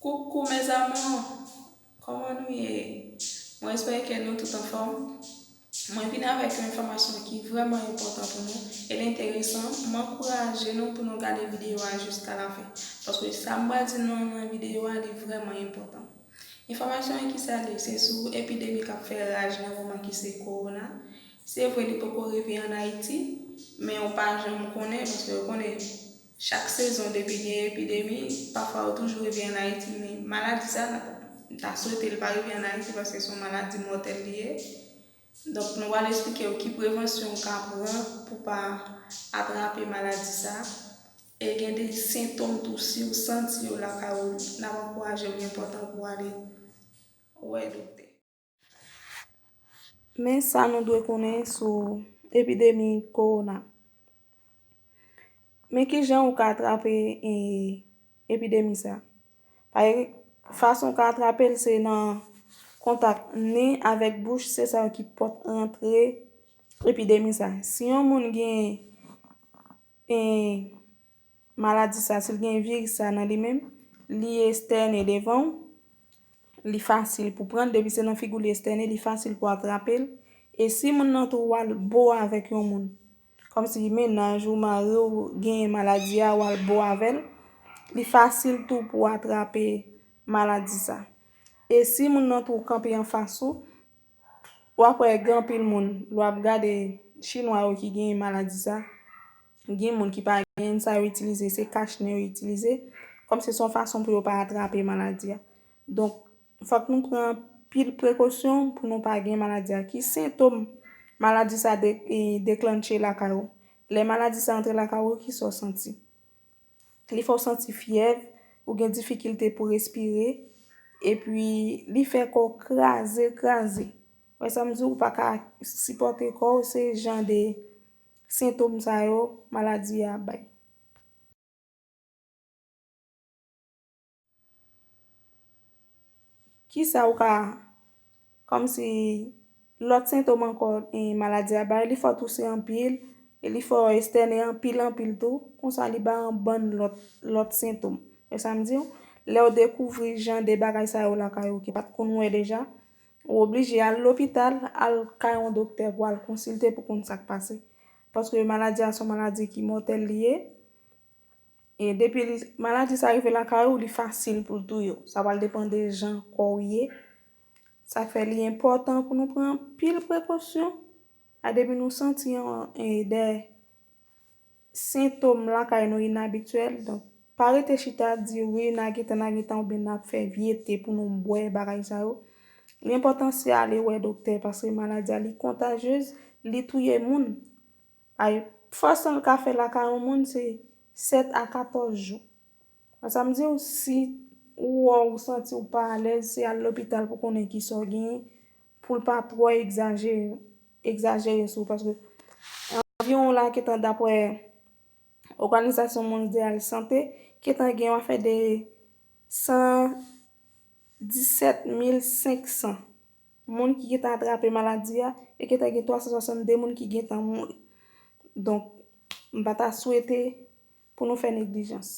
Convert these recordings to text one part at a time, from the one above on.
Coucou mes amours Koman nou ye? Mwen espere ke nou tout anfòm. Mwen vin avèk yon enfòmasyon ki vrèman enpòtan pou nou, el enteresan, m ankouraje nou pou nou gade videyo a jiska lafen, paske sa m pral di nou nan videyo a li vrèman enpòtan. Enfòmasyon an ki sa li? Se sou epidemi k ap fè raj nan moman ki se Kowona. Se vre li poko rive an Ayiti, men ou pa janm konnen paske ou konnen Chak sezon depi gen epidemi pafwa yo toujou rive an Ayiti men maladi sa m ta swete l pa rive an Ayiti paske son maladi mòtèl li ye donk nou pral esplike w ki prevansyon w ka pran pou pa atrape maladi sa e gen de sentom tou si w santi yo lakay w nap ankouraje w li enpòtan pou w ale wè doktè. Men sa nou dwe konnen sou epidemi kowona. Men ki jan ou ka atrape epidemi sa. Fason ou ka atrape l se nan kontak nen avèk bouch se sa yo ki pot antre epidemi sa. Si yon moun gen. Maladi sa sil gen viris sa nan li menm li estène devanw li fasil pou pranl depi se nan figou li estène li fasil pou atrapel e si moun nan tou wal bo avèk yon moun kòmsi menaj ou mariw genyen maladi a wal bo avèl li fasil tou pou atrape maladi sa e si moun nan tou kanpe anfas ou Wap wè gen anpil moun lè wap gade chinwa yo ki genyen maladi sa gen moun ki pa genyenn sa yo itilize se kach nen yo itilize kòm se son fason pou yo pa atrape maladi a donk fòk nou pran anpil prekosyon pou nou pa gen maladi a ki sentom maladi sa deklannche lakay ou lè maladi sa antre lakay ou ki sa ou santi li fè w santi fyèv, ou gen difikilte pou respire, epi li fè kò w kraze kraze. Ou wè sa m di w, ou pa ka sipòte kò w, se jan de sentom sa yo maladi a bay. Kisa ou ka Kòmsi lòt sentom ankò maladi a bay li fè w touse anpil e li fè w estènen anpil anpil tou konsa li bay yon bann lòt sentom wè sa m di w lè w dekouvri jan de bagay sa yo lakay ou ki pat konn wè deja ou oblije al lopital al kay yon doktè pou al konsilte pou konn sa k pase paske maladi a son maladi ki mòtèl li ye E depi li maladi sa rive lakay ou li fasil pou l touye w. Sa pral depan de jan kò w ye. Sa fè li enpòtan pou nou pran anpil prekosyon. A depi nou santi yon e de sentom lakay nou inabityèl donk pa rete chita di wi na gentan na gentan oubyen na fè vye te pou nou bwè bagay sa yo. Li enpòtan se ale wè doktè paske maladi a li kontajyez li touye moun. Ay fason l ka fè lakay yon moun se 7 a 14 jou. An sa m di w si ou wè w santi w pa alèz se al lopital pou konnen ki sa w genyen pou l pa twò egzajere egzajere sou w paske anviwon w la gentan dapre Oganizasyon Mondyal Sante gentan gen yon afè de 117 mil 500 Moun ki gentan atrape maladi a, e gentan gen 362 moun ki gentan mouri. Donk, m pa ta swete pou nou fè neglijans.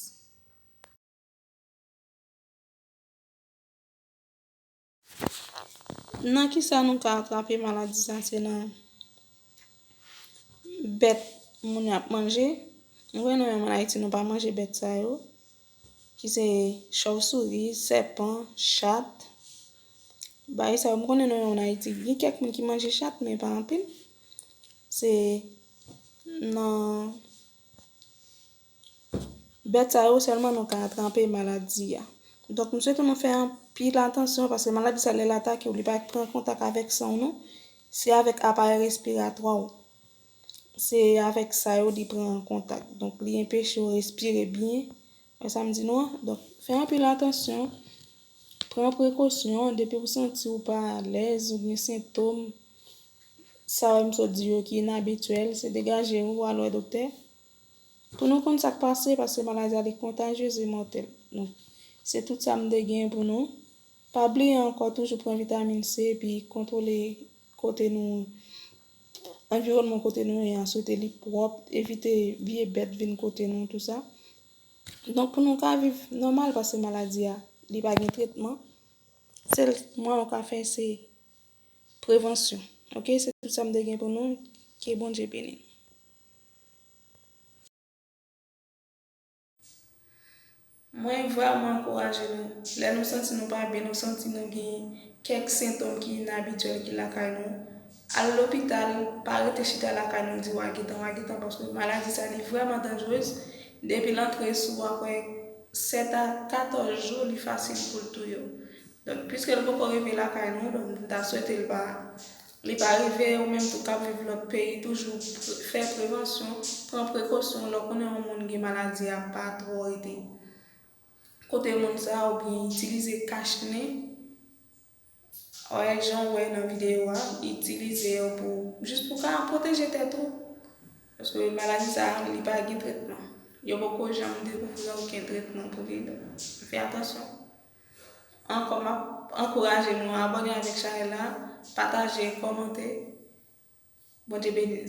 Nan ki sa nou ka atrape maladi sa? Se nan bèt moun ap manje. Nou konnen nou menm an Ayiti nou pa manje bèt sa yo. Ki se chawsouri, sèpan, chat. Bagay sa yo m konnen nou an Ayiti gen kèk moun ki manje chat men pa anpil. Se nan bèt sa yo sèlman nou ka atrape maladi a. Donk m swete nou fè anpil atansyon paske maladi sa lè l atake w li pa pran kontak avèk san w non. Se avèk aparèy respiratwa w. Se avèk sa yo li pran an kontak. Donk li enpeche w respire byen. Wè sa m di nou an? Donk fè anpil atansyon. Pran prekosyon. Depi w santi w pa alèz ou gen sentom sa yo m sot di yo ki inabityèl, se degaje w, al wè doktè pou nou konn sa k pase paske maladi a li kontajyez e mòtèl. Donk se tout sa m te gen pou nou. Pa bliye ankò toujou pran vitamin C epi kontwole kote nou anviwònman kote nou ye a swete li pwòp, evite vye bèt vin kote nou tou sa. Donk pou nou ka viv nòmal paske maladi a li pa gen tretman, sèl mwen ou ka fè se prevansyon ok se tout sa m te gen pou nou ke Bondye beni nou. Mwen vrèman ankouraje nou. Lè nou santi nou pa byen, nou santi nou gen kèk sentom ki inabityèl ki lakay nou, al lopital, pa rete chita lakay nou di wa gentan, wa gentan paske maladi sa li vrèman danjrez, depi l antre sou w aprè 7 a 14 jou li fasil pou l touye w. Donk pwiske l poko rive lakay nou, donk m ta swete l pa Li pa rive ou menm tou kap viv lòt peyi toujou fè prevansyon, pran prekosyon lè w konnen yon moun gen maladi a pa twò rete kote moun sa ou byen itilize kach nen òèl jan w wè nan videyo a, itilize yo pou jis pou ka pwoteje tèt ou paske maladi sa li pa gen tretman yo poko janm dekouvri oken tretman pou li, fè atansyon. Ankò map ankouraje nou abòne avèk chanèl la pataje kòmante Bondye beni n.